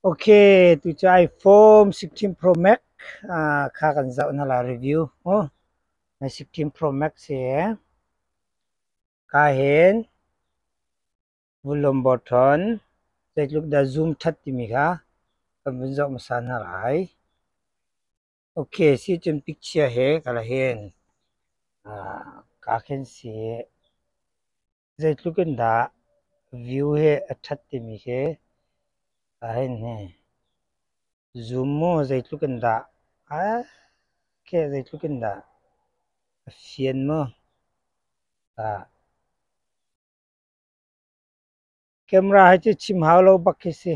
Ok, tucai Form 16 Pro Max ah kha kan zoh na la review. Oh, na 16 Pro Max hi ka hin vulom botton zeitluk dah zoom that timi kha kan vun zoh hmasa na lai. Ok, si cun picture he kala hin ah ka khin si. Zeitluk in dah view hi a ṭhat timi khi a hei hni. Zoom mu zeitluk in dah ake zeitluk in dah a fian mu. Camera hi cu chim hau lo bak khi si.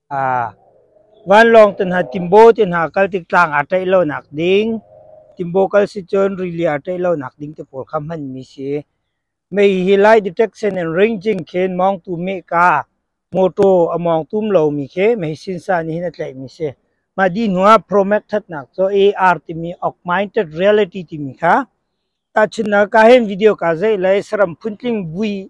Vanlawng te hna timbaw te hna kal tik tlang aa tlaih lonak ding, timbaw kal si cun rili aa tlaih lonak ding te pawl kha hmanmi si. Mei hi Lai Detection and Ranging khin mawngtu mehka, motor a mawng tum lomi khi mei sinsa nih hin a tlaihmi si. Mah dih hnuah Promac thatnak cu AR timi Augmented Reality timi kha tahchunhnak ah hin video kaa zeih lai saram phuntling vui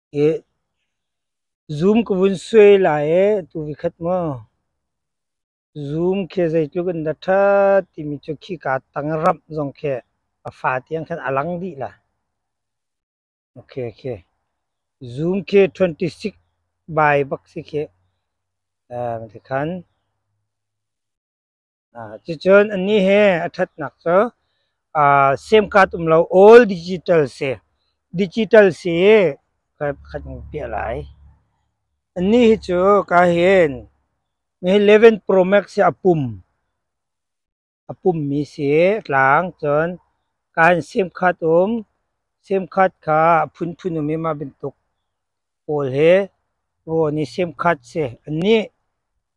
Zoom ka vun suai lai ee tu vi khat maw? Zoom khi zeitluk in dah ṭha timi cu khika tangram zong khi a fa tiang khan a lang dih la. Okay, okay. Zoom khi 26 by bak si khi, uh, ti khan. Cucun anih he a ṭhatnak cu SIM card um lo all digital si digital si kan hung piah lai. Anih hi cu ka hin mi hi 11 Pro Max hi a pum a pummi si tlang cun kaan SIM card um SIM card kha a phunphun um i mah bantuk pawl hi rawn i SIM card si anih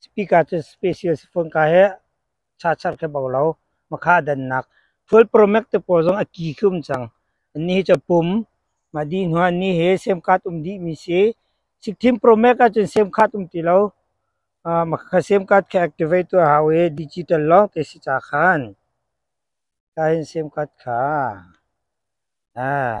Cipik ahcun special sifung ka hi chachar khi bau lo. Makha a dannak. Fuel promax te pawl zong a ki khum cang. Anni hi cu pum. Mah dih hnu anni hi sem khat um dih mi si. Sikthim promax ahcun sem khat um ti lo. Uh, makha sem khat khi activate tu a hau i digital lawng te si ca khan. Ta hin sem khat kha. Ah.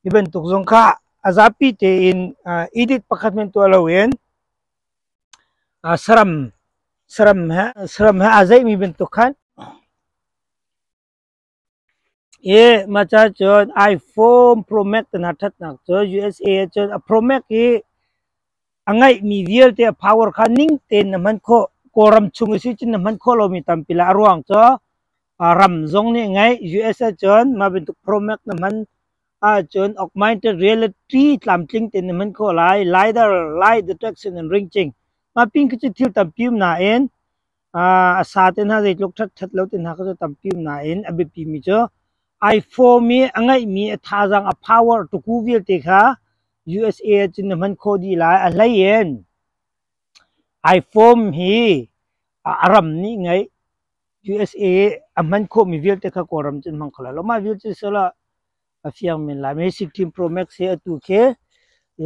Hi bantuk zong kha a zapi tein edit pakhat men tuah loin saram saram he saram he aa zeihmi bantuk khan i maca cun iPhone Pro Max na thatnak cu USA cun a Pro Max hi a ngeihmi vialte a power kha ning tein na hman khawh Kawlram chung i cun na hman khawh lomi tampi lah a ruang cu ram zong nih ngeih US ahcun mah bantuk promac na hman ahcun augmented reality tlamtling tein na hman khawh lai LiDAR lie detection and ranging mah pin khi cu thil tampi um nain A sa te hna zeitluk ṭhaṭhat lo te hna kha cu tampi um nain a biapimi cu iPhone i a ngeihmi a thazaang a power tuku vialte kha USA ah cun na hman khawh dih lai. A hlei in iPhone hi a ram nih ngeih USA a hman khawhmi vialte kha Kawlram cun hmang kho lai lo. Mah vialte cu lah a fiang men lai. Mi 16 Pro Max hi atu khi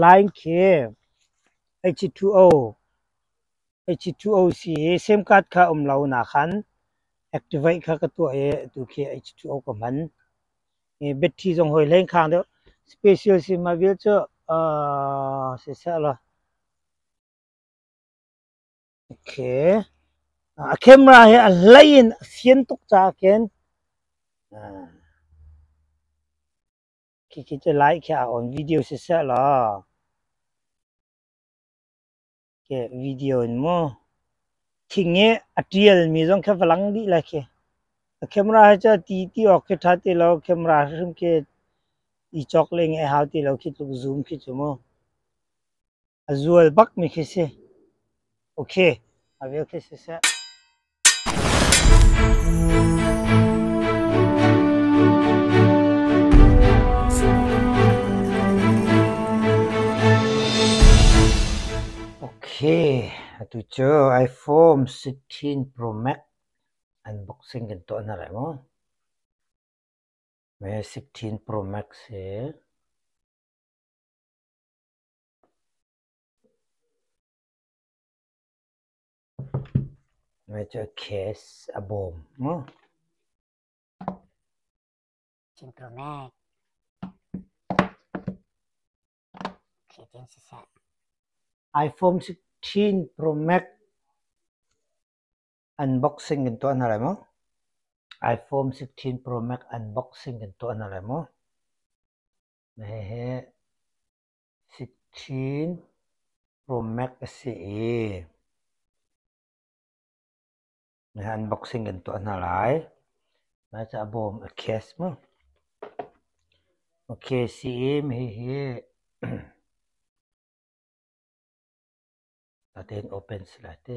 line khi HC2O H2O-C i SIM card kha um lo nakhan activate kha ka tuah i atu khi H2O ka hman. I battery zong hoi leng khang deuh. Special SIM ma vial cu uh, siseh law. Okay. A camera hi a hlei in a fian tuk ca ken. Khi khi cu lai khi a on video siseh law. video in mu thing i a tial mi zong kha va lang dih lai khi a camera hi cu ti ti awk khi tha ti lo camera hrim khi i chok le ngai hau ti lo khi tluk zoom khi chu mu a zual bak mi khi si okay a veu khi si seh Atu cu iPhone 16 Pro Max unboxing kan tuah hna lai maw? Me 16 Pro Max hi Ngaihchia case a bawm maw? iPhone 16 Pro Max unboxing kan tuah hna lai maw? iPhone 16 Pro Max unboxing kan tuah hna lai maw? Hehe. Sik chin ruammek a si i an boxing kan tuah hna lai. Mah cu a bawm a case mu. A case i hihi tatein open si lai te.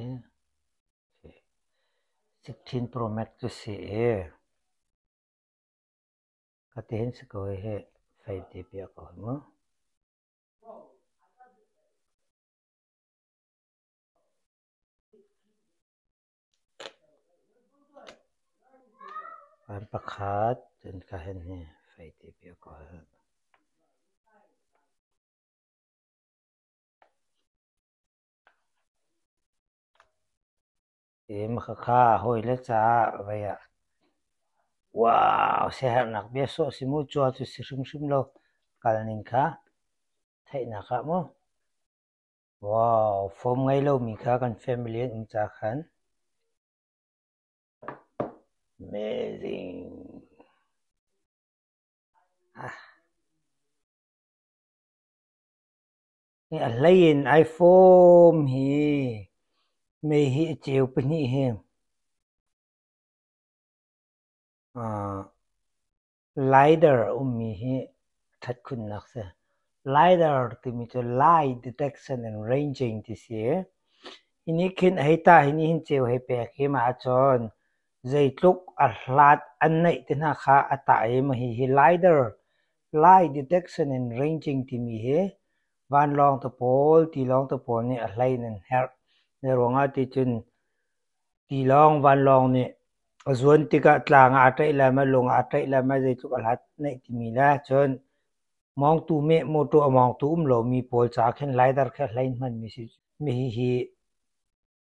Sik chin ruammek cu si i Ka tein sikawi hi fei te pek ka hoi mu. An pakhat cun ka hen hi fei te pek ka hoi. Makha hawile caah vei ah wow siaherhnak bia sawh si mu cua cu si hrimhrim lo kal ning kha theihnak ah mu. Wow fawm ngei lomi kha kan family an um ca khan amazing. Ah. A hlei in ai fawm hi mei hi a ceu pahnih hi. Lider a ummi hi a ṭhat khunnak si. Lider timi cu light detection and ranging ti si i, hi nih khin hei ta hi nih hin ceu hei pek hi ma ahcun zeitluk a hlat an neih te hna kha a tah i mahi hi lider Lie detection in ranging timi hi vanlawng tapawl tilawng tapawl nih a hlei in an herh. Hi ruangah ticun tilawng vanlawng nih a zuan tikah tlang ah a tlaih lai maw, lung ah a tlaih lai maw zeitluk a hlat naih timi le cun mawngtu meh mawṭaw a mawngtu um lomi pawl caah khin lidar khi a hlei hmanmi a si. Hihi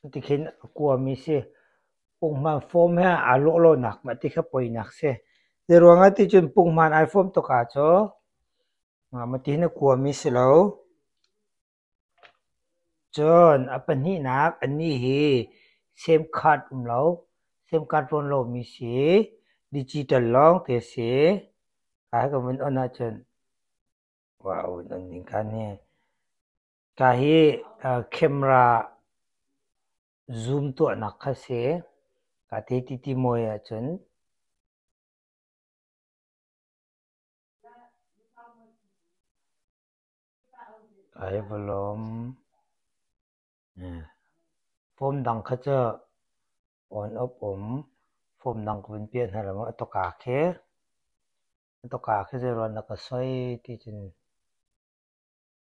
Cutikhin a kuami si. Punghman fawm he aa lawhlonak mah ti kha poinak si. Zeiruangah ticun punghman ai fawm tuk ahcun mah ti hin a kuami si lo. Cun a pahnihnak a ni hi SIM card um lo, SIM card rawn lomi si, digital lawng ti a si. Kai ka vun on ahcun, wow, in on ning kan hi. Ka hi camera zoom tuahnak kha si. Ka ti ti ti mui ahcun ai va lawm. Form dang kha cu on off um form dang ka vun piah hna law maw a tawka khi. A tawka khi zei ruang dah ka soi ti cun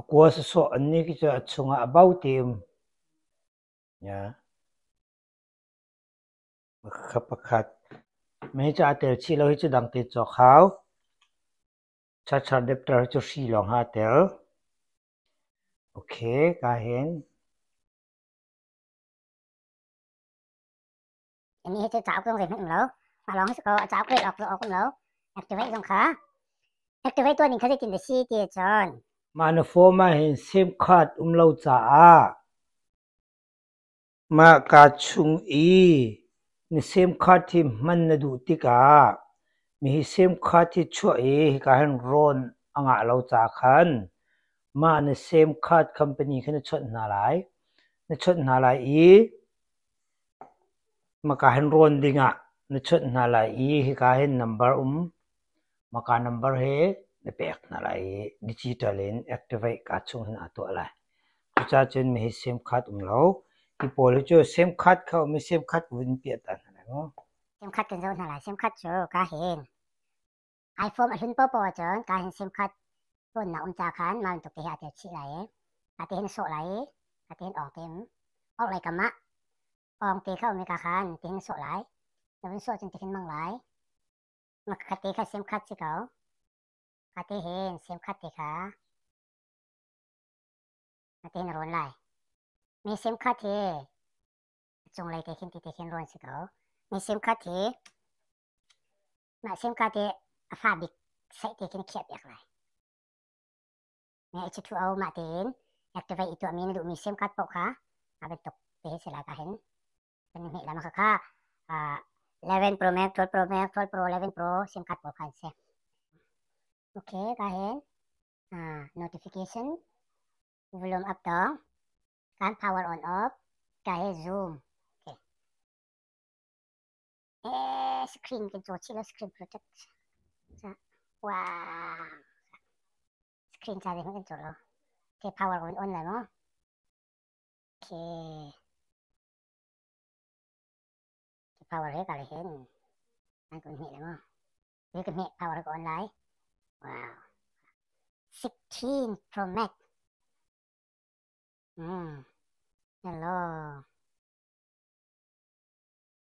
A kua sawsawh an nih cu a chungah a bau tim. Mei cu aa tel chih lo hi cu dang te cawk hau. Charchar depter hi cu hri lawng ha tel. Ok, kaa hen. mi hi cu cauk zong zeihmanh um lo mah lawng hi su ko a cauk awk awk um lo activate zong kha activate tuan ning kha zeitin dah si ti cun mah na form ah hin sim card um lo caah mah ka chung i na sim card hi hman na duh tikah mi hi sim card hi chuah i hika hin rawn a ngah lo ca khan mah na sim card company kha na chawnh hna lai na chawnh hna lai i Maka hin rawn ding ah na chunh hna lai i hika hin number um maka number he na pek hna lai i digital in activate kaa chung hin aa tuah lai. Cucacun mi hi sim card um lo. Hi pawl hi cu sim card kha um i sim card vun piah ta hna lai maw? Sim card kan zoh hna lai. Sim card cu ka hin. iPhone a hlun popo cun kaa hin sim khat phone um ca khan mah bantuk hi ate chih lai i ate hin sawh lai i ate hin ong tim orh lei kam ah ong te kha um ka khan ti hin sawh lai na vun sawh cun ti hin mang lai ma khat te kha sim khat si ko kha te hin sim khat te kha ate hin run lai mi sim khat hi chung lei te khin ti te khin run si ko mi sim khat hi Mah simka te a fa bik saih te kin khiah piak lai. Me a thu au mah te in activate i tuah mi na duh mi sim card poh kha a bit tuk te se la ka hin. Kan hme lama kha kha 11 Pro Max 12 Pro Max 12 Pro 11 Pro sim card poh khan se. Okay, ka hin notification volume up to kan power on off ka he zoom Yes, screen kan caw chih lo screen protect. Ca wow. Screen ca zeihmanh kan caw lo. Okay, power on on lai maw? Okay. Okay, power he kali hen. An kun hme lai maw? He kan hme power ko on lai. Wow. 16 Pro Max. Mm. Hello.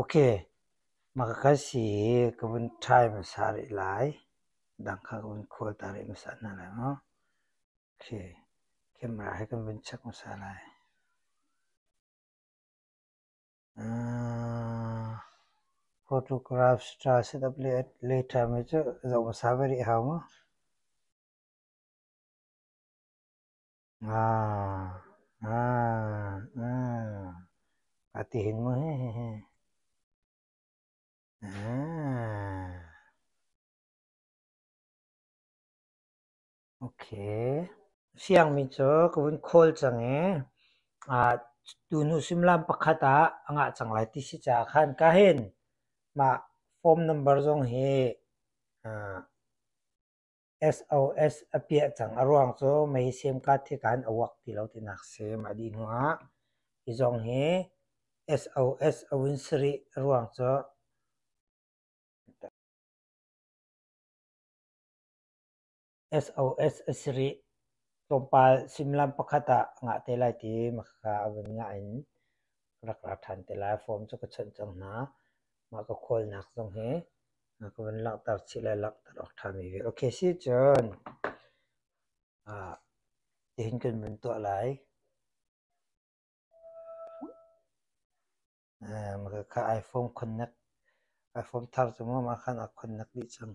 Ok, maka kal si hi ka vun ṭhai hmasa rih lai. Dang kha ka vun khual ta rih hmasa hna lai maw? Ok, camera hi kan vun check hmasa lai. Photograph ṭha setup later mi cu zoh hmasa ve rih hau maw? Nga, nga, nga, a ti hin mu hehehe. Ok. Siangmi cu ka vun khawl cang i ah tunu suimilam pakhat ah a ngah cang lai ti si caah khan ka hin mah form number zong hi ah SOS a piah cang. A ruang cu mei sim card hi kan a wuak ti lo tinak sim. A dih hnuah hi zong hi SOS a vun si rih. A ruang cu SOS a si rih. Tlawmpal suimilam pakhat ah ngah te lai ti makhaka a vun ngah in rak ra ṭhan te lai. Form cu ka chonh cang hna. Mah ka khawlnak zong hi Na ka vun langhter chih le langhter awk ṭhami ve. Ok si cun ah tihin kan vun tuah lai. Eh, maka ka iPhone connect iPhone thar cu mu ma khan a connect dih cang.